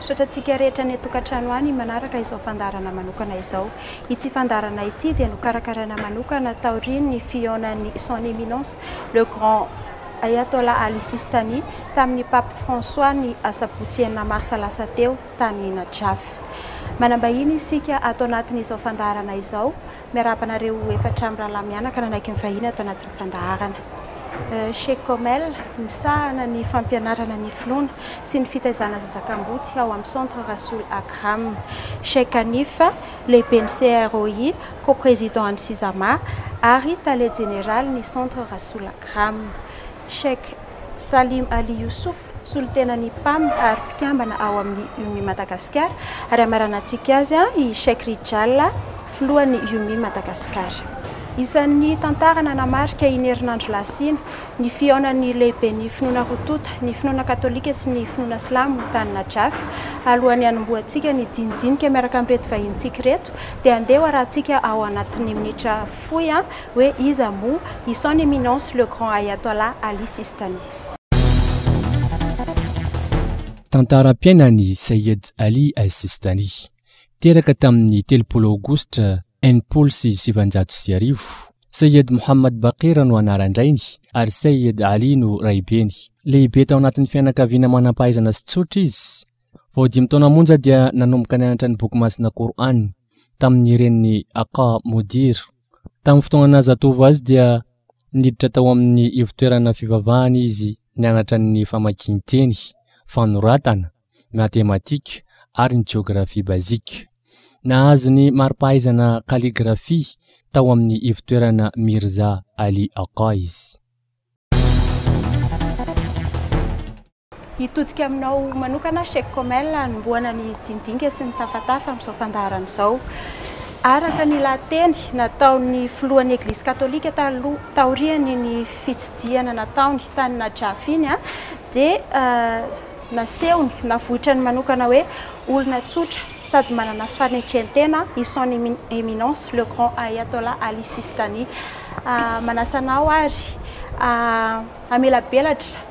Misaotra antsika rehetra any an-tokantrano any manaraka izao fandaharana manokana izao. Ity fandaharana ity dia nokarakaraina manokana taorian'ny fihaonan'ny Son Eminence le Grand Ayatollah Ali Sistani tamin'ny Pape François ny asabotsy enina marsa lasa teo tany Najaf. Manambahiny isika ato anatin'izao fandaharana izao Miarahaba anareo efatra mirahalahy mianaka nanaiky ny vahiny ato anatin'ny fandaharana Chez Comel misahana ny fampianarana ny finoana sy ny fitaizana zazakamboty ao amin'ny Centre Rasoul Akram. Cheikh Hanif, lehiben'ny CROI, co-président an'ny Sisama ary tale jeneralin'ny Centre Rasoul Akram. Cheikh Salim Ali Youssouf, solontenan'ny Pam ary mpikambana ao amin'ny Umi Madagascar, ary hamaranantsika azy i Cheikh Rijal, filohan'ny Umi Madagascar. Isan'ny tantara nanamarika iny herinandro lasa iny ny fihaonan'ny lehiben'ny finoana roa tonta, ny finoana katolika sy ny finoana silamo tany Najaf. Alohan'ny hanombohantsika ny dinidinika miaraka amin'ireto vahinintsika ireto dia handeha ho arahantsika ao anatin'ny minitra fohy hoe iza moa i Son Eminence le Grand Ayatollah Ali Sistani. Tantaram-piainan'i Seyyed Ali al-Sistani. Teraka tamin'ny telopolo Aogositra enimpolo sy sivinjato sy arivo. Seyyed Muhammad Baqir no anaran-drainy ary Seyyed Ali no raibeny. Lehibe tao anatin'ny fianakaviana manam-pahaizana sy tsotra izy. Vao dimy taona monja dia nanomboka nianatra ny boky masina Qur'an tamin'ny reniny Aka Modir. Tamin'ny fotoana naha-zatovo azy dia niditra tao amin'ny ivotoerana fivavahana izy nianatra ny famakian-teny, fanoratana, matematika ary ny jeografia bazika. Nahazo ny mari-pahaizana kaligrafia tao amin'ny ivotoerana Mirza Ali Aka izy. Hitodika aminao manokana, Cheikh Komel, hanombohana ny dinindinika sy ny tafatafa amin'izao fandaharana izao. Araka ny lahateny nataon'ny filohan'ny Eglizy Katolika taloha taorian'ny ny fitsidihana nataony tany Najaf iny dia nasehony, navoitrany manokana hoe olona tsotra sady manana fanetren-tena i Son Eminence le Grand Ayatollah Ali Sistani. Manasa anao ary hamelabelatra.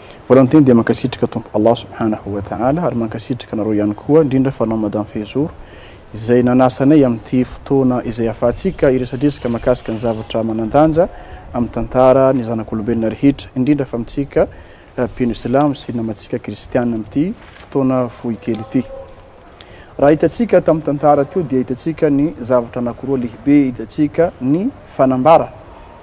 Voalohanteny dia mankasitraka Tompo Allah Subhanahu wa Ta'ala ary mankasitraka anareo ihany koa indrindra fa anao Madame Fehzour izay nanasa anay amin'ity fotoana izay ahafahantsika hiresadresaka mahakasika ny zavatra manandanja amin'ny tantara ny zanak'olombelona rehetra indrindra fa amintsika mpino silamo sy namantsika kristiana amin'ity fotoana fohy kely ity. Raha hitantsika tamin'ny tantara teo dia hitantsika ny zavatra anankiroa lehibe, hitantsika ny fanambara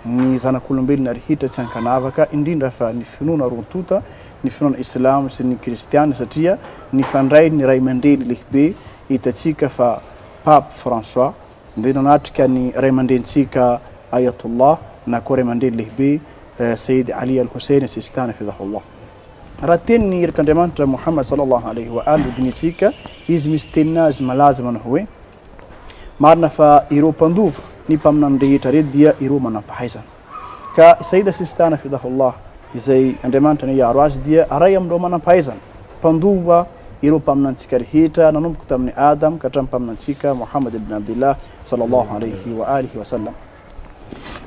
ny zanak'olombelona rehetra tsy ankanavaka, indrindra fa ny finoana roa tonta, ny finoana islamo sy ny kristiana satria nifandray ny raimandreny lehibe, hitantsika fa Pape François dia nanatrika ny raimandrenintsika Ayatollah na koa raimandreny lehibe Sayyid Ali Al-Hussein Sistani Hafidhahullah. Raha teny ny Irik'Andriamanitra Mouhammad Sallallahu Alayhi wa Al hodinihintsika, izy misy teniny azy malaza manao hoe, Marina fa ireo mpandova ny mpaminany rehetra re dia ireo manam-pahaizana. Ka i Sayyida Sistan Hafidhahullah, izay Andriamanitra anie hiaro azy, dia aray amin'ireo manam-pahaizana, mpandova ireo mpaminantsika rehetra nanomboka tamin'i Adam ka hatramin'ny mpaminantsika Mouhammad ibn Abdillah Sallallahu Alayhi wa Alihi wa Sallam.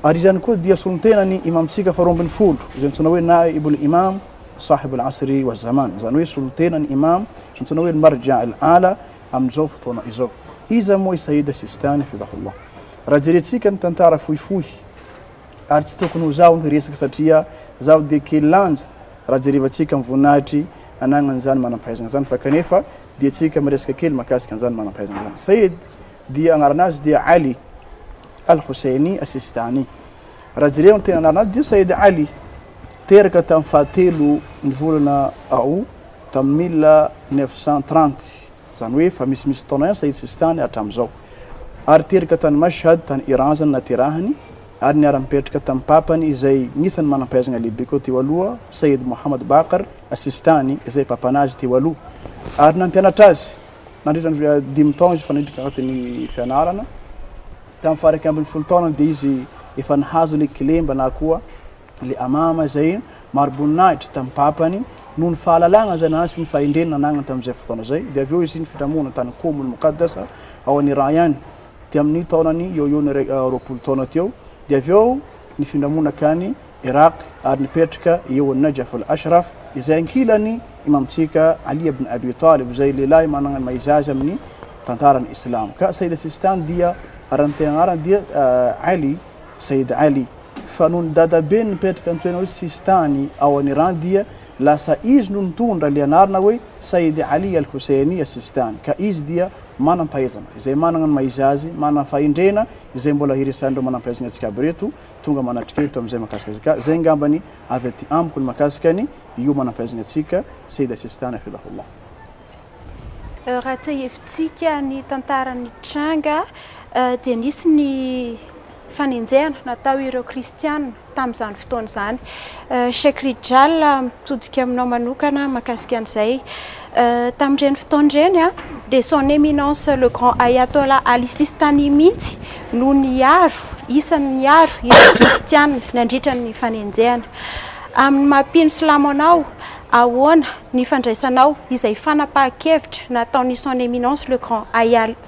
Ary izany koa dia solontenan'ny Imam-tsika faharoa ambin'ny folo, izay antsoina hoe Naibul Imam, Sahibul Asri wa Zaman, izany hoe solontenan'ny Imam, izay antsoina hoe Al-Marja' al-A'la, amin'izao fotoana izao. Iza moa i Sayyid Sistani, hafidhahullah? Raha jerentsika ny tantara fohifohy, ary tsy tokony ho zaho no hiresaka satria zaho dia kely lanja raha jerevantsika ny voninahitry anagnan'izany manam-pahaizana izany, fa kanefa dia tsika miresaka kely makasika an'izany manam-pahaizana izany. Sayyid. dia anarana azy dia Ali Al Husseini Assistani. Raha jereo ny tena anarana azy dia Said Ali. Teraka tamin'ny fahatelo ny volana Aout tamin'ny mille neuf cent trente, izany hoe efa misimisy taona ihany Said Sistani hatramin'izao. Ary teraka tany Mashhad tany Iran izany naterahany ary niara-nipetraka tamin'ny papany izay anisan'ny manam-pahaizana lehibe koa teo aloha Sayyid Mohammad Baqr Assistani izay papanazy teo aloha ary nampianatra azy. nandritra ny dimy taona izy fanidrika anaty ny fianarana. Tamin'ny faharaiky ambin'ny folo taona dia izy efa nahazo ilay kilemba na koa ilay amama izay mariboninahitra tamin'ny papany noho ny fahalalana izay nanany sy ny fahendrena nananany tamin'izay fotoana izay. Dia avy eo izy nifilamoana tany Komony Mokaddas ao any Iran ihany dia amin'ny taonany eo eo ny roapolo taona teo. Dia avy eo nifindra monaka any Iraq ary nipetraka eo Najaf al-Ashraf izay ankilan'i Imamontsika Ali ibn Abi Talib izay lehilahy manana ny maha-izy-azy amin'ny tantaran'ny Islamo. Ka Sayyid Sistan dia aran'tena anarany dia Ali, Sayyid Ali. Fa noho ny dadabeny nipetraka antsoina hoe Sistani ao an'i Iran dia lasa izy no nitondra ilay anarana hoe Sayyid Ali al-Husayni as-Sistani. Ka izy dia manam-pahaizana izay manana ny maha-izy-azy, manana fahendrena izay mbola iresahan'ireo manam-pahaizana etsy Kaaba ireto, tonga manatrika eto amin'izay mahakasika azy. Ka izay angambany avy aty amiko ny mahakasika ny hiomanam-pahaizana antsika Seyda Sistane Hafidhahullah. Raha tsiahivitsika ny tantara nitranga dia nisy ny fanenjehana natao ireo kristiana tamin'izany fotoana izany. Cheikh Rijal mitodika aminao manokana mahakasika an'izay. Tamin'ireny fotoana ireny dia Son Eminence le Grand Ayatollah Ali Sistani mihitsy no niaro, isany niaro ireo kristiana nandritra ny fanenjehana. Amin'ny maha mpino silamo anao, ahoana ny fandraisanao izay fanapahan-kevitra nataon'i Son Eminence le Grand Ayatollah?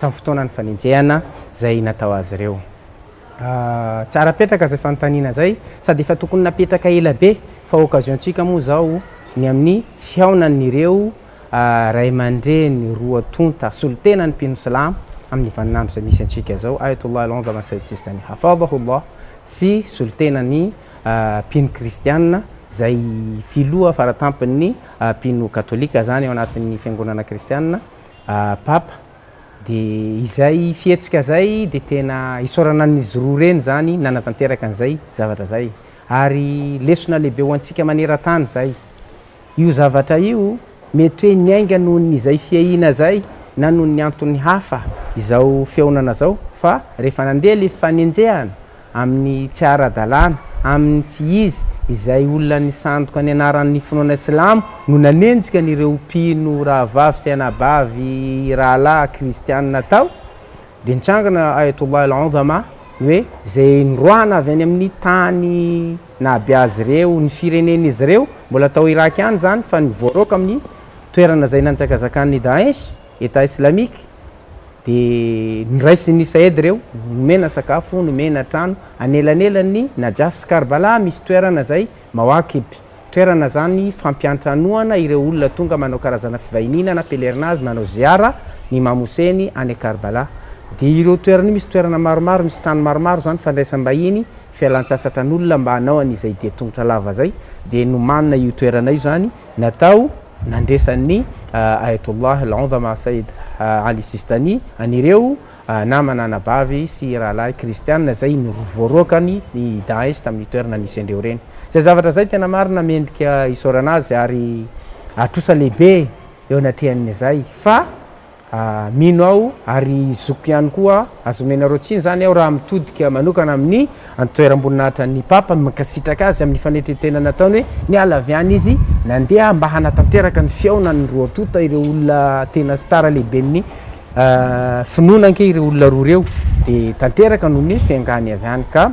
tamin'ny fotoanan'ny fanenjehana izay natao azy ireo. Tsara apetraka izay fanontaniana izay, sady efa tokony napetraka ela be, fa occasion-tsika moa izao ny amin'ny fihaonan'ireo ray aman-dreny roa tonta solontena ny mpino silamo amin'ny vaninandro izay misy antsika izao, Ayatollah Al-A'zam Al-Sayyid Sistani Hafadhahu Allah sy solontenan'ny mpino kristiana izay filoha faratampon'ny mpino katolika izany ao anatin'ny fiangonana kristiana, Papa, de izay fihetsika zay de tena isaorana an'izy roa reny zany nanatanteraka an'izay zavatra zay ary lesona lehibe ho antsika manerantany zay. Io zavatra io mety hoe niainga noho ny izay fiahiana zay na noho ny antony hafa izao fihaonana zao fa rehefa nandeha le fifanenjehana amin'ny tsy ara-dalàna, amin'ny tsy izy, izay olona nisandoka ny anaran'ny finoana silamo no nanenjika an'ireo mpino rahavavy sy anabavy rahalahy kristianina tao, dia nitrangana Ayatollah al-A'zama ny hoe izay niroahana avy any amin'ny tany nahabe azy ireo, ny firenen'izy ireo, mbola tao Irak ihany izany, fa ny voaroaka amin'ny toerana izay nanjakazakan'ny Daesh, Etat Islamique, dia noraisin'i Saed ireo, nomena sakafo, nomena trano, anelanelan'ny Najaf sy Karbala misy toerana izay Mawaqib, toerana izany fampiantranoana ireo olona tonga manao karazana fivahiniana na pèlerinage manao Ziyara ny Imam Hossein any Karbala. Dia ireo toerana io misy toerana maromaro misy trano maromaro izany fandraisam-bahiny, fialan-tsasatran'olona mba hanao an'izay dia tongotra lava izay, dia nomanina io toerana io izany natao, nandresan'ny Ayatollah Al-Udhama Sayyid Ali Sistani an'ireo namana anabavy sy rahalahy kristiana izay novoaroakany ny Daesh tamin'ny toerana nisy an'ireo reny. Izay zavatra izay tena marina mendrika isaorana azy ary atrosa lehibe eo anatrehan'izay fa Mino aho ary zokiko ihany koa aza omenareo tsiny izany aho raha mitodika manokana amin'ny antoeram-boninahitran'ny Papa ny mankasitraka azy amin'ny fanetren-tena nataony hoe niala avy any izy nandeha mba hanatanteraka ny fihaonan'ny roa tonta ireo olona tena star lehiben'ny finoana ange ireo olona roa ireo dia tanteraka noho ny fiangany avy any ka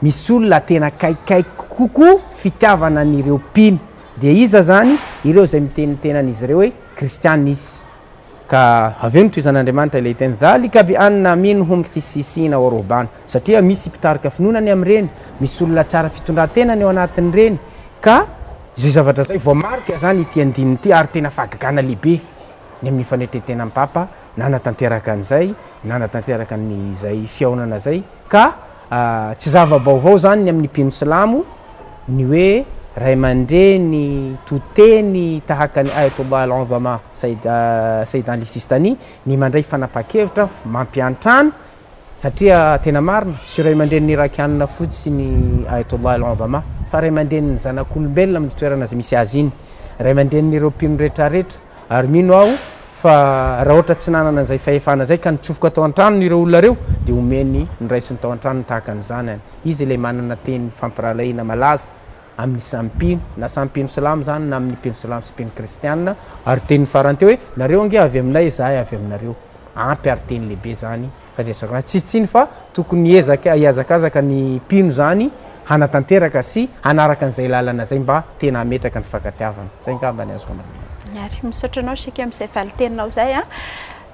Misy olona tena akaikikaiky kokoa fitiavana an'ireo mpino. Dia iza izany? Ireo izay miteny ny tenan'izy ireo hoe Kristiana izy. Ka avy eo nitohizan'Andriamanitra ilay teny, Dhalika bi anna minhum qissisiina wa ruhbaana, satria misy mpitarika finoana ny amin'ireny, misy olona tsara fitondran-tena ny ao anatin'ireny. Ka izay zavatra izay, voamarika izany ity andininy ity, ary tena fahagagana lehibe ny amin'ny fanetren-tenan'ny Papa nanatanteraka an'izay, nanatanteraka an'izay fihaonana izay. Ka. Tsy zava-baovao izany ny amin'ny mpino silamo ny hoe ray aman-dreny to teny tahaka an'i Ayatollah al-A'zama Sayyid Ali Sistani ny mandray fanapahan-kevitra mampiantrano satria tena marina, tsy ray aman-drenin'ny Irakiana fotsiny Ayatollah al-A'zama fa ray aman-drenin'ny zanak'olombelona amin'ny toerana izay misy azy iny, ray aman-drenin'ireo mpino rehetrarehetra. Ary mino aho fa raha ohatra tsy nanana an'izay fahefana izay ka nitsofoka tao an-tranony ireo olona ireo dia homeny ny raisiny tao an-tranony tahaka ny zanany. Izy ilay manana teny fampirahalahiana malaza amin'ny samy mpino, na samy mpino silamo izany na amin'ny mpino silamo sy mpino kristianina, ary teniny farany teo hoe, Nareo ange avy aminay, izahay avy aminareo. Ampy ary teny lehibe izany. Faharesako ahy tsy tsiny fa tokony hiezaka hihazakazaka ny mpino izany hanatanteraka sy hanaraka an'izay lalana izay mba tena hametraka ny fifankatiavana. Izay angamba ny azoko ambara amin'izay. Miary. Misaotra anao Sheikh amin'izay valinteninao izay an!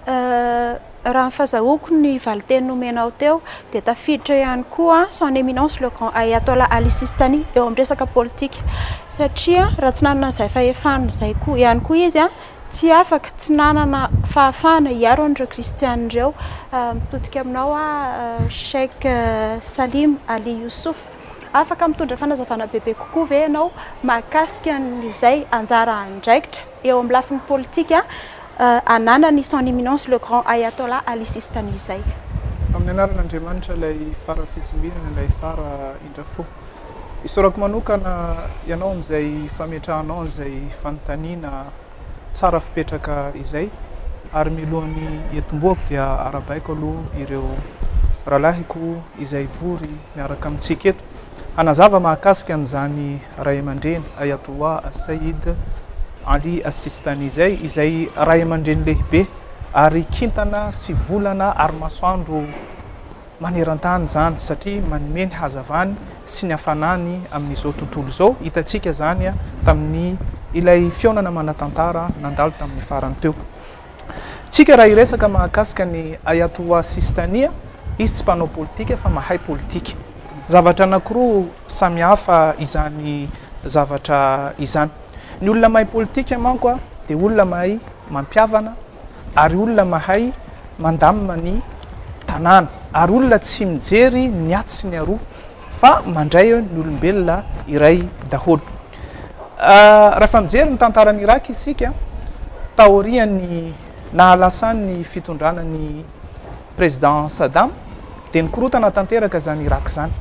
Raha ny fazahoako ny valinteny nomenao teo dia tafiditra ihany koa an, son eminence le grand Ayatollah Ali Sistani eo amin'ny resaka politika satria raha tsy nanana izay fahefana izay koa ihany koa izy an, Tsy afaka, tsy nanana fahafahana hiaro an'ireo Kristiana ireo. Mitodika aminao aho, Cheikh Salim Ali Yousuf. Afaka mitondra fanazavana bebe kokoa ve ianao mahakasika an'izay anjara andraikitra eo amin'ny lafiny politika ananan'i Son Eminence le Grand Ayatollah Ali Sistani izay? Amin'ny anaran'Andriamanitra, Ilay Fara Fitsimbinana, Ilay Fara Indra Fo. Isaorako manokana ianao amin'izay fametrahanao an'izay fanontaniana tsara fipetraka izay ary milohan'ny hiatombohako dia arabaiko aloha ireo rahalahiko izay vory miaraka amintsika eto hanazava mahakasika an'izany Ray aman-dreny Ayatollah Sayyid Ali As-Sistani izay, izay Ray aman-dreny lehibe ary kintana sy volana ary masoandro maneran-tany izany satria manome ny hazavany sy ny hafanany amin'izao tontolo izao. Hitantsika izany tamin'ny ilay fihaonana manan-tantara nandalo tamin'ny farany teo. Tsika raha hiresaka mahakasika ny Ayatollah Sistani, izy tsy mpanao politika fa mahay politika. Zavatra anankiroa samihafa izany zavatra izany. Ny olona mahay politika manko dia olona mahay mampihavana ary olona mahay mandamina ny tanàna ary olona tsy mijery ny atsy sy ny aroa fa mandray ny olombelona iray daholo. Rahefa mijery ny tantaran'i Irak isika taorian'ny nahalasan'ny fitondrana ny Président Saddam dia nikorotana tanteraka izany Irak izany.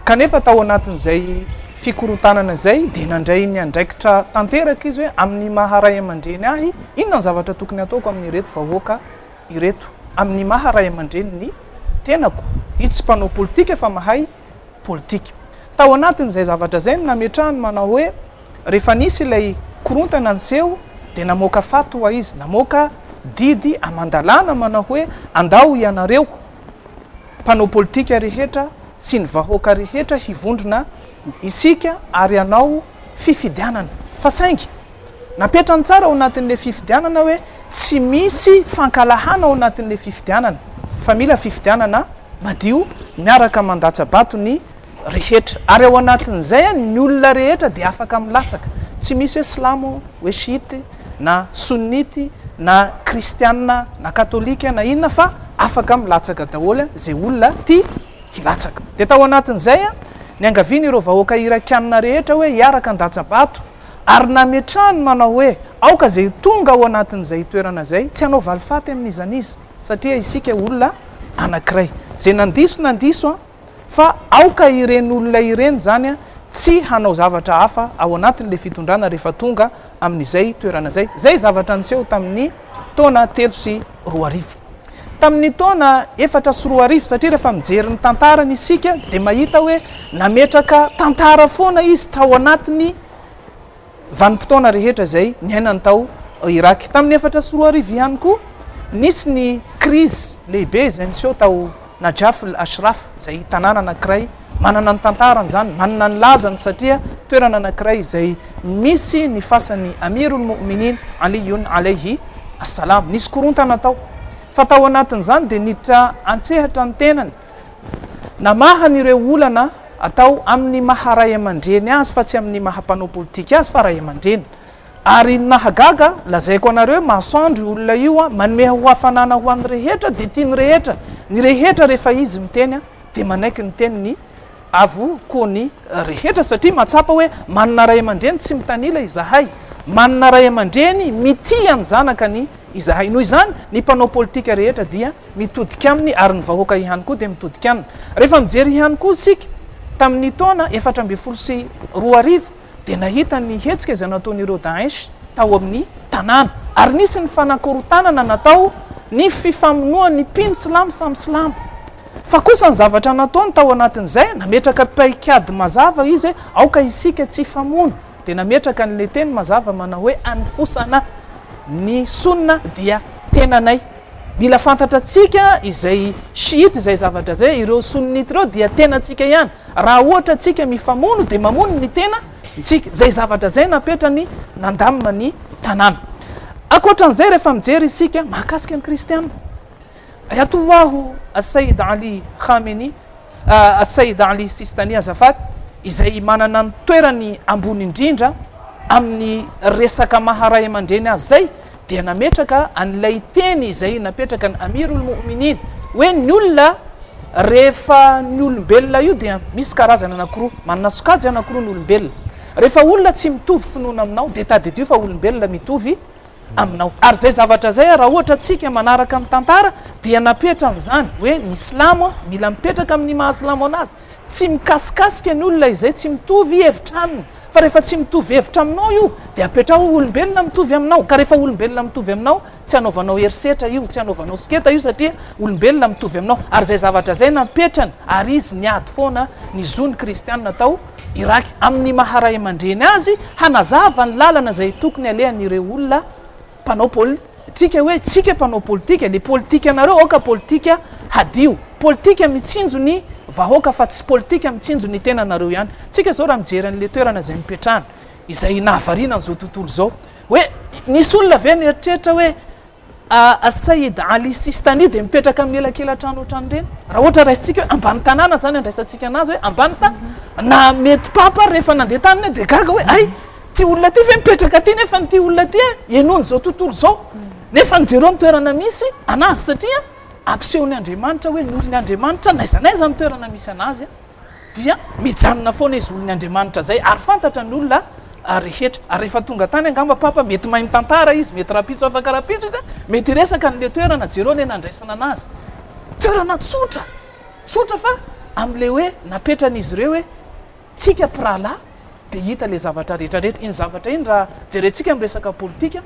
Kanefa tao anatin'izay fikorontanana izay dia nandray ny andraikitra tanteraka izy hoe amin'ny maha ray aman-dreny ahy, inona ny zavatra tokony hataoko amin'ireto vahoaka ireto? Amin'ny maha ray aman-dreny ny tenako? Izy tsy mpanao politika fa mahay politika. Tao anatin'izay zavatra izay no nametrahany manao hoe rehefa nisy ilay korontana niseho dia namoaka fatwa izy, namoaka didy aman-dalàna manao hoe andao ianareo, mpanao politika rehetra sy ny vahoaka rehetra hivondrona isika ary hanao fifidianana fa saingy napetrany tsara ao anatin'ilay fifidianana hoe tsy misy fankalahana ao anatin'ilay fifidianana fa mila fifidianana madio miaraka mandatsa-bato ny rehetra. Ary ao anatin'izay any ny olona rehetra dia afaka milatsaka. Tsy misy hoe silamo, hoe shiite, na sunnite, na kristiana, na katolika, na inona fa afaka milatsaka daholo izay olona tia hilatsaka. Dia tao anatin'izay niangavian'ireo vahoaka irakiana rehetra hoe hiaraka handatsa-bato ary nametrahany manao hoe aoka izay tonga ao anatin'izay toerana izay tsy hanao valifaty amin'iza n'iza satria isika olona anankiray. Izay nandiso nandiso an! fa aoka ireny olona ireny izany tsy hanao zavatra hafa ao anatin'ilay fitondrana rehefa tonga amin'izay toerana izay. Izay zavatra niseho tamin'ny taona telo sy roa arivo. Tamin'ny taona efatra sy roa arivo, satria rehefa mijery ny tantarany isika dia mahita hoe nametraka tantara foana izy tao anatin'ny vanim-potoana rehetra izay niainany tao Irak. Tamin'ny efatra sy roa arivo ihany koa, nisy ny krizy lehibe izay niseho tao Najaf al-Ashraf, izay tanàna anankiray manana ny tantarany izany, manana ny lazany satria toerana anankiray izay misy ny fasan'ny Amir al-Mouminin Aliyun alayhi as-salam. Nisy korontana tao, fa tao anatin'izany dia niditra an-tsehatra ny tenany. Namaha ny ireo olana atao amin' ny maha ray aman-dreny azy fa tsy amin' ny maha mpanao politika azy fa ray aman-dreny. Ary ny mahagaga, lazaiko anareo, masoandro io olona io an, manome ho hafanana ho an' ny rehetra, dia tia ny rehetra, ny rehetra rehefa izy miteny dia manaiky ny tenin' ny Avo ko ny rehetra satria matsapa hoe manana ray aman-dreny tsy mitanila izahay. Manana ray aman-dreny mitia ny zanaka ny izahay. Noho izany ny mpanao politika rehetra dia mitodika aminy ary ny vahoaka ihany koa dia mitodika aminy. Rehefa mijery ihany koa isika tamin'ny taona efatra ambin'ny folo sy roa arivo, dia nahita ny hetsika izay nataon'ireo Daesh tao amin'ny tanàna, ary nisy ny fanakorontanana natao ny fifamonoan'ny mpino silamo samy silamo. Fa kosa ny zavatra nataony tao anatin'izay, nametraka paikady mazava izy hoe aoka isika tsy hifamono, dia nametraka an'ilay teny mazava manao hoe anofosana ny Sunna dia tenanay. Mila fantatratsika izay shiite izay zavatra izay, ireo sunnite ireo dia tenatsika ihany, raha ohatra tsika mifamono dia mamono ny tena tsika, izay zavatra izay napetrany nandamina ny tanàna. Ankoatran'izay rehefa mijery isika mahakasika ny kristiana, Ayatollah As-Sayyid Ali Khamenei, Said Ali Sistani Azafat izay manana ny toerany ambony indrindra amin'ny resaka maha ray aman-dreny azy izay dia nametraka an'ilay teny izay napetraka ny Amir ol-Mo'minin hoe ny olona rehefa ny olombelona io dia misy karazana anankiroa manana sokajy anankiroa ny olombelona rehefa olona tsy mitovy finoana aminao dia tadidio fa olombelona mitovy aminao. Ary izay zavatra izay raha ohatra tsika manaraka ny tantara dia napetra an'izany hoe ny silamo a, mila mipetraka amin'ny maha silamo anazy. Tsy mikasikasika ny olona izay tsy mitovy hevitra aminy fa rehefa tsy mitovy hevitra aminao io dia apetraho ho olombelona mitovy aminao ka rehefa olombelona mitovy aminao tsy anaovanao herisetra io, tsy anaovanao siketa io satria olombelona mitovy aminao. Ary izay zavatra izay napetrany ary izy niady foana ny zo ny kristiana tao. Irak amin'ny maha ray aman-dreny azy hanazava ny lalana izay tokony halehan'ireo olona mpanao poli tika hoe tsika mpanao politika le politikanareo aoka politika hadio politika mitsinjo ny vahoaka fa tsy politika mitsinjo ny tenanareo ihany tsika zao raha mijery an'le toerana izay mipetrahana izay nahavariana an'izao tontolo izao hoe nisy olona ve nieritreritra hoe Said Ali Sistani dia mipetraka amin'ny elakela-trano ohatran'ireny. Raha ohatra raisintsika hoe ambany tanàna izany andraisantsika anazy hoe ambany tanàna. Na mety papa ary rehefa nandeha taminy dia gaga hoe hay, ity olona ity ve mipetraka aty nefa ity olona ity henoiny izao tontolo izao. Nefa jereo ny toerana misy anazy satria ampisehoan'Andriamanitra hoe norin'Andriamanitra n'aiza n'aiza ny toerana misy anazy. dia mijanona foana izy olony Andriamanitra zay ary fantatra ny olona rehetra ary rehefa tonga tany angamba papa mety mahay mitantara izy mety rapitso afaka rapitso izy mety hiresaka an'le toerana jereo le nandraisana anazy toerana tsotra tsotra fa am'le hoe napetran'izy ireo hoe tsika mpirahalahy dia hita le zavatra rehetra rehetra iny zavatra iny raha jerentsika miresaka politika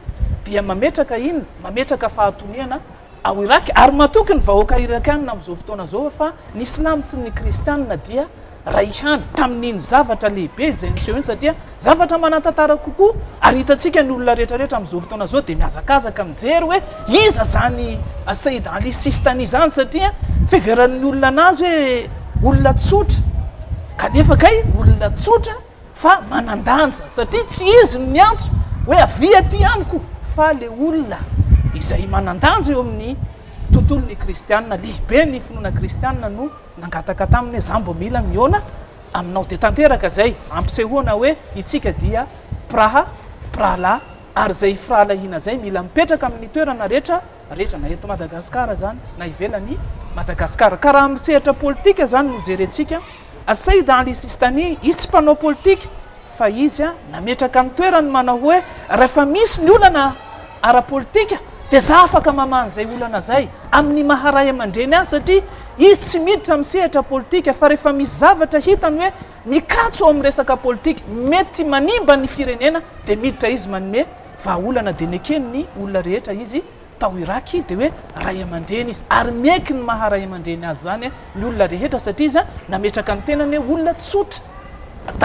dia mametraka iny mametraka fahatoniana ao Iràka, ary matoky ny vahoaka Irakàna amin'izao fotoana izao fa ny Silamo sy ny Kristiana dia ray ihany, tamin'iny zavatra lehibe izay niseho iny, satria zavatra manan-tantara kokoa, ary hitantsika ny olona rehetrarehetra amin'izao fotoana izao dia mihazakazaka mijery hoe iza izany Sayyid Ali Sistani izany, satria fiheveran'ny olona anazy hoe olona tsotra, kanefa kay olona tsotra. fa manan-danja satria tsy izy no niantso hoe avia aty amiko fa le olona izay manan-danja eo amin'ny tontolon'ny kristianina, lehibe ny finoana kristianina no nangataka taminy hoe za mbo mila mihaona aminao dia tanteraka izay ampisehoana hoe itsika dia mpiraha mpirahalahy ary zay firahalahiana zay mila mipetraka amin'ny toerana rehetra rehetra na eto Madagascar zany na ivelan'i Madagascar ka raha amin'ny sehatra politika zany no jerentsika Said Ali Sistani, izy tsy mpanao politika fa izy nametraka ny toerany manao hoe rehefa misy ny olana ara-politika dia za afaka mamaha an'izay olana izay amin'ny maha ray aman-dreny azy satria izy tsy miditra amin'ny sehatra politika fa rehefa misy zavatra hitany hoe mikatso ao amin'ny resaka politika mety manimba ny firenena dia miditra izy manome vahaolana dia nekeny ny olona rehetra izy tao Irak dia hoe ray aman-dreny izy ary mieky ny maha ray aman-dreny azy izany ny olona rehetra satria izy nametraka ny tenany hoe olona tsotra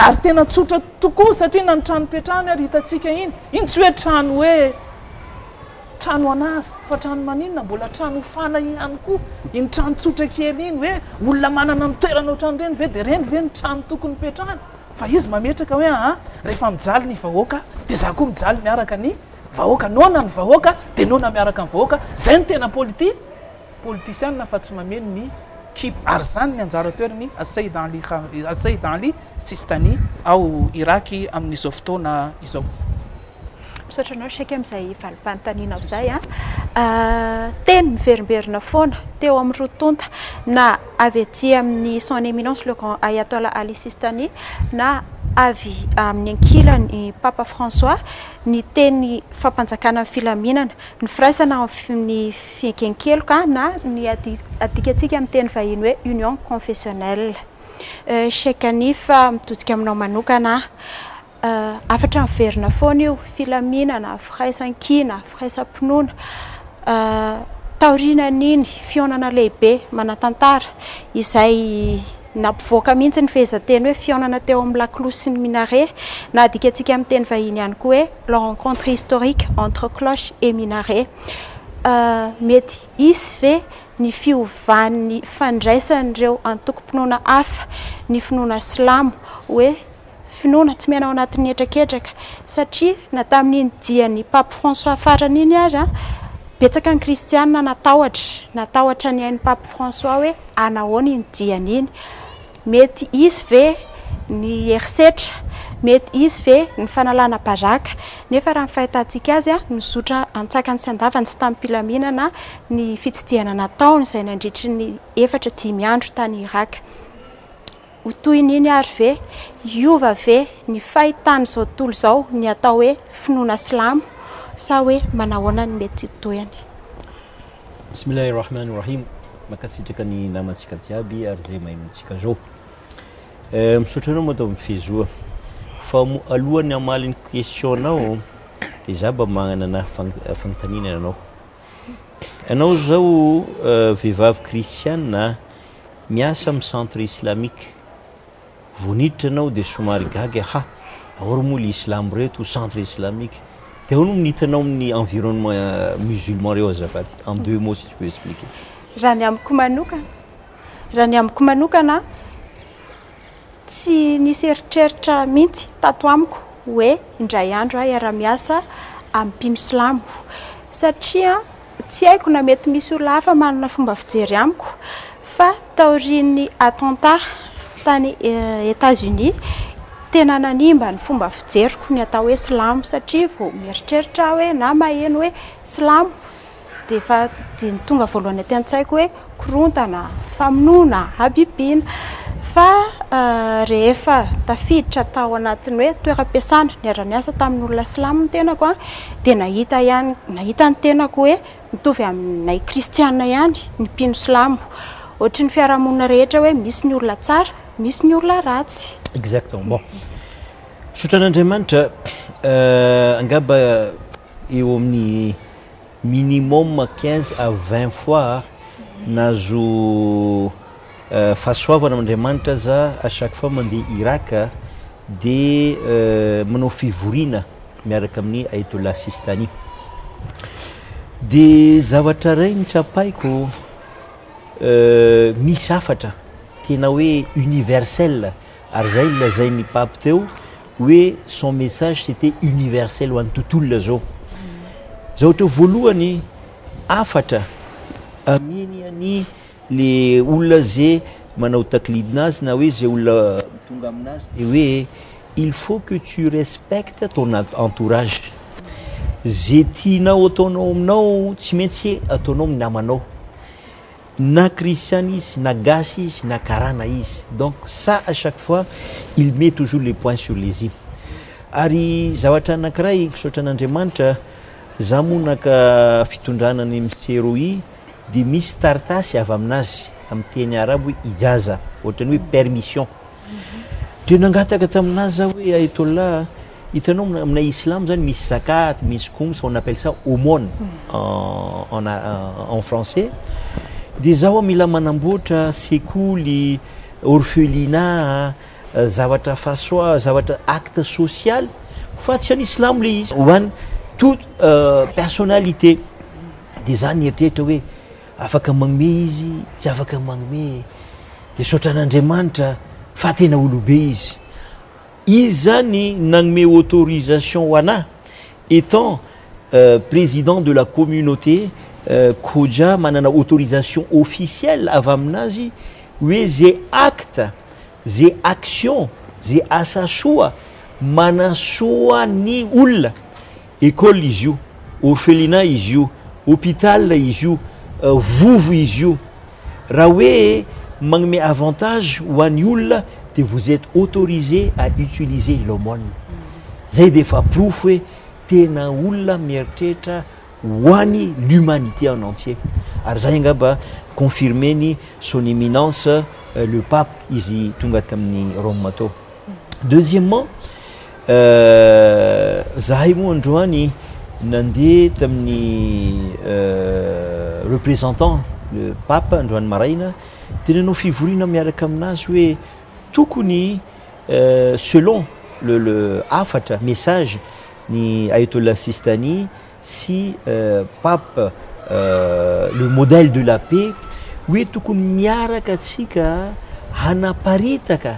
ary tena tsotra tokoa satria na ny trano ipetrahany ary hitantsika iny iny tsy hoe trano hoe trano an'asa fa trano maninona mbola trano hofana ihany koa iny trano tsotra kely iny hoe olona manana ny toerana ohatran'ireny ve dia ireny ve ny trano tokony ipetrahany fa izy mametraka hoe aha rehefa mijaly ny vahoaka dia za koa mijaly miaraka ny Vahoaka noana ny vahoaka dia noana miaraka ny vahoaka, zay no tena politi politisiana fa tsy mameno ny kip ary zany ny anjara toerany Asseid Ali Asseid Ali Sistani ao Iraky amin'izao fotoana izao. Misaotra anao Sheikh amin'izay valim-panontanianao izay an! Teny miverimberina foana teo amin'ny roa tonta na avy aty amin'ny Son Eminence le Grand Ayatollah Ali Sistani na avy amin'ny ankilany Papa François ny teny fampanjakana ny filaminana, ny firaisana amin'ny fiaiken-keloka na ny adikantsika amin'ny teny vahiny hoe union confessionnelle. Cheikh Hanif, mitodika aminao manokana aho. Hafatra miverina foana io, filaminana, firaisankina, firaisam-pinoana. Taorian'iny fihaonana lehibe manan-tantara izay nampivoaka mihitsy ny fehezanteny hoe fihaonana teo amin'ny lakolosy sy ny minare na adikantsika amin'ny teny vahiny ihany koa hoe la rencontre historique entre cloche et minaret. Mety hisy ve ny fiovan'ny fandraisan'ireo antokom-pinoana hafa ny finoana silamo hoe Finoana tsy miaina ao anatin'ny hetraketraka, satria na tamin'iny dian'i Pape François farany iny aza, betsaka ny kristiana natahotra, natahotra ny ain'i Pape François hoe hanahoana iny diany iny, mety hisy ve ny herisetra, mety hisy ve ny fanalana baraka, nefa raha ny fahitantsika azy, nizotra an-tsakany sy an-davany sy tamim-pilaminana ny fitsidihana nataony izay nandritry ny efatra dimy andro tany Iràka. Ho toy ny iny ary ve? Hiova ve ny fahitan'izao tontolo izao ny atao hoe finoana silamo? Sa hoe manahoana ny mety ho tohiny? Bismillah Ar-Rahman Ar-Rahim Mankasitraka ny namantsika jiaby ary zay maheno antsika zao. Eh, misaotra anao Madame Fezoa. Fa moa alohan'ny hamaly ny question-nao de za mba magnana fagnontaniana anao. Anao zao vehivavy kristiana, Miasa amin'ny centre islamique. Vao niditra ianao dia somary gaga ha aory moa ry islamo reto ho centre islamique. Dia ahoana moa ny hitanao amin'ny environnement musulman ireo azafady? En deux mots si tu peux expliquer. Raha ny amiko manokana, raha ny amiko manokana an. Tsy nisy eritreritra mihitsy tato amiko hoe indray andro aho hiara-miasa amin'ny mpino silamo, satria tsy haiko na mety misy olona hafa manana fomba fijery amiko, fa taorian'ny attentat tany Etats-Unis, tena nanimba ny fomba fijeriko ny atao hoe silamo, satria vao mieritreritra aho hoe na maheno hoe silamo, dia efa dia ny tonga voalohany aty an-tsaiko hoe korontana, famonoana, habibiana. Fa rehefa tafiditra tao anatin'ny hoe toeram-piasana, niara-niasa tamin'olona silamo ny tenako an, dia nahita ihany nahita ny tenako hoe mitovy aminay kristiana ihany ny mpino silamo. Ohatry ny fiarahamonina rehetra hoe misy ny olona tsara, misy ny olona ratsy. Exactement. Bon. Misaotra an'Andriamanitra, angamba eo amin'ny minimum quinze à vingt fois nahazo fahasoavana am Andriamanitra aza à chaque fois mandeha Irak de manao fivoriana miaraka amin'ny Ayatollah Sistani de zavatra iray no tsapaiko misy hafatra tena hoe universel Ary izay nolazain'i Pape teo hoe son message c'était universel ho an'ny tontolo ilay izao. Izao ohatrao voalohany hafatra amiany any le olona ze manao taklidina azy na hoe ze olona tonga aminazy dia hoe il faut que tu respectes ton entourage. Ze tianao ataonao aminao tsy maintsy ataonao amin'ny namanao. Na christian izy, na gasy izy, na karana izy. Donc ça à chaque fois il met toujours le point sur les i. Ary zavatra anankiray, misaotra an'Andriamanitra, za moa naka fitondrana an'i Misie Rohi dia misy taritasy avy amin'azy amin'ny teny arabo hoe ijaza, ohatran'ny hoe permission. Dia nangataka tamin'azy za hoe Ayatollah a! Hitanao aminay islam zany misy zakat, misy khums, on appelle ça aumône en en français. Dia zaho mila manamboatra sekoly, orphelinat, zavatra façon zavatra acte social fa tsy any islam le izy ho any toute personnalité. Dia za nieritreritra hoe afaka magnome izy, tsy afaka magnome. Dia saotra an'Andriamanitra fa tena olobe izy. Iza ny nanome autorisation ho anà? Etant président de la communauté Koja manana autorisation officielle avy amin'azy hoe ze acte, ze action, ze asa soa manasoa ny olona. École izy io, orphelinat izy io, hôpital izy io, vovo izy io. Raha hoe manome avantage ho an'ny olona dia vous êtes autorisé à utiliser l'aumône. Zay dia efa porofo hoe tena olona mieritreritra ho an'i l'humanité en entier. Ary zay angamba confirmer-ny son eminence le pape izy tonga tamin'i Rôma tao. deuxièmement euh, zahay moa androany nandeha tamin'ny euh, représentant le pape androany maraina dia nanao fivoriana miaraka aminazy hoe tokony euh, selon le, le hafatra message ny ayatollah sistani sy euh, pape euh, le modèle de la paix hoe tokony miaraka atsika hanaparitaka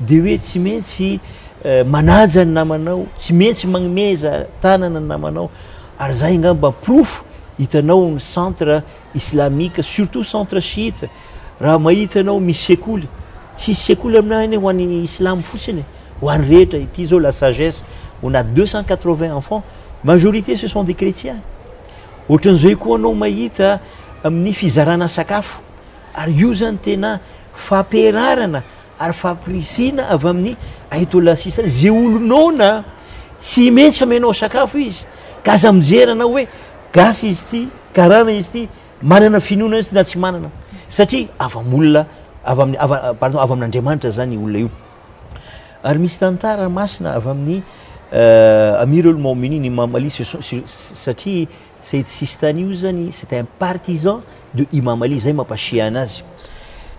Dia hoe tsy mentsy manaja ny namanao, tsy mentsy magnomeza tanana ny namanao, ary zay ngamba porofo, hitanao ny centre islamique, surtout centre chiite, raha mahita anao misy sekoly, tsisy sekoly aminah anie ho an'ny islamo fotsiny e, ho an'ny rehetra, ity zao la sagesse, on a deux cent quatre vingt enfants, majorité ce sont des chretiens, ohatran'izay koa anao mahita amin'ny fizarana sakafo, ary io zany tena faperarana, ary fampirisiana avy amin'ny Ayatollah Sistani ze olo noana tsy mentsy amenao sakafo izy ka aza mijery anao hoe gasy izy ty karana izy ty manana finoana izy ty na tsy manana satria avy am olona avy amin'ny avy pardon avy amin'Andriamanitra zany olona io ary misy tantara masina avy amin'ny euh, Amirul Mouminin Imam Ali satria Said Sistani io zany c'est un partisan de Imam Ali zay mampasehana azy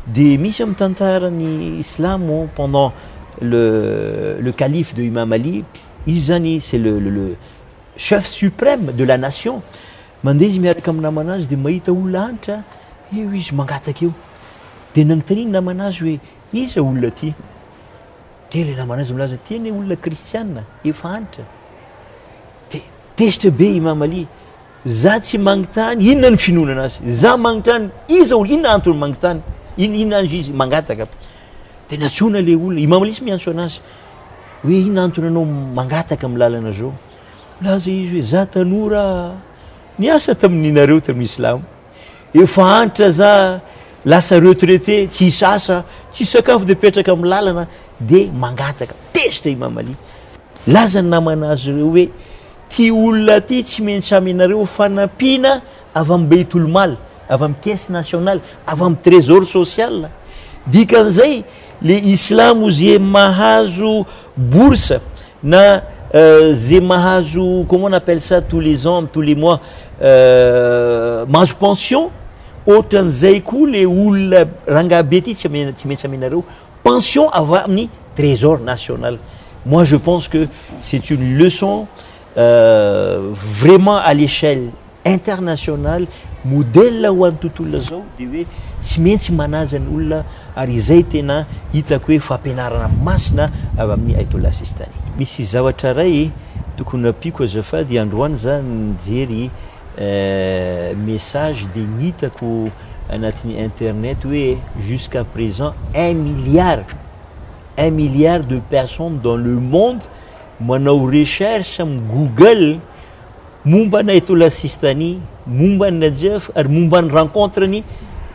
de misy amin'ny tantaran'ny silamo pendant le le calife de Imam Ali izy zany c'est le le le chef supreme de la nation mandeha izy miaraka amin'ny namanazy de mahita olona antitra eo izy mangataka eo de nagntania ny namanazy hoe iza olona ty de le namanazy milaza ty anie olona kristiana efa antitra de Tezitra be Imam Ali, za tsy mangtany inona ny finoana anazy, za mangtany iza olona, inona antony mangtany, in inona azy izy mangataka aby. De natsoina le olona, Imam Ali tsy miantso anazy, hoe inona antony anao mangataka am lalana zao, milaza izy hoe za tanora niasa tamin nareo tam Islam, efa antitra za lasa retraité, tsisy asa, tsisy sakafo de mipetraka am lalana de mangataka, tezitra Imam Ali. Nilaza ny namana azy ireo hoe, Ity olona ity tsy miha-mitsamy anareo fanampiana avy amin'ny Beytoul Mal, avy amin'ny Caisse Nationale, avy amin'ny Trésor Social. Dikan'izay, ilay Islamo izay mahazo bourse na izay mahazo comment on appelle ça tous les ans, tous les mois, mahazo pension, ohatran'izay koa ilay olona rangahy be ity tsy miha-mitsamy anareo. pension avy amin'ny trésor national moi je pense que c'est une leçon vraiment à l'échelle internationale modèle ho an'ny tontolo lazao dia hoe tsy mentsy manaja ny olona ary izay tena hitako hoe fampianarana masina avy amin'ny Aytollah Sistani. Misy zavatra iray tokony ampiako azafady, androany za nijery message dia ny hitako. anatin'ny internet hoe jusqu'à présent un milliard un milliard de personnes dans le monde manao recherche amin'ny google momba an'i Ayatollah Sistani, momba an'i Najaf ary momba ny rencontre-ny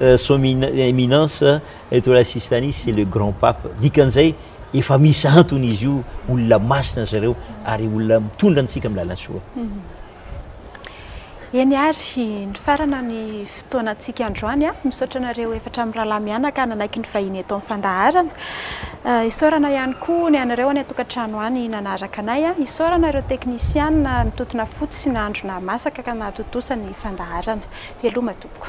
euh, son éminence Ayatollah Sistani c'est le grand pape. Dikan'izay efa misy antony izy io, olona masina zareo ary olona mitondra antsika amin'ny lalan-tsoa. Eny ary, nifarana ny fotoanantsika androany. Misaotra anareo efatra mirahalahy mianaka nanaiky ny vahiny eto amin'ny fandaharana. Isaorana ihany koa ny anareo any an-tokantrano any nanaraka anay. Isaorana ireo teknisiana nitontona fotsy sy nandro nahamasaka ka nahatontosa ny fandaharana. Veloma tompoko.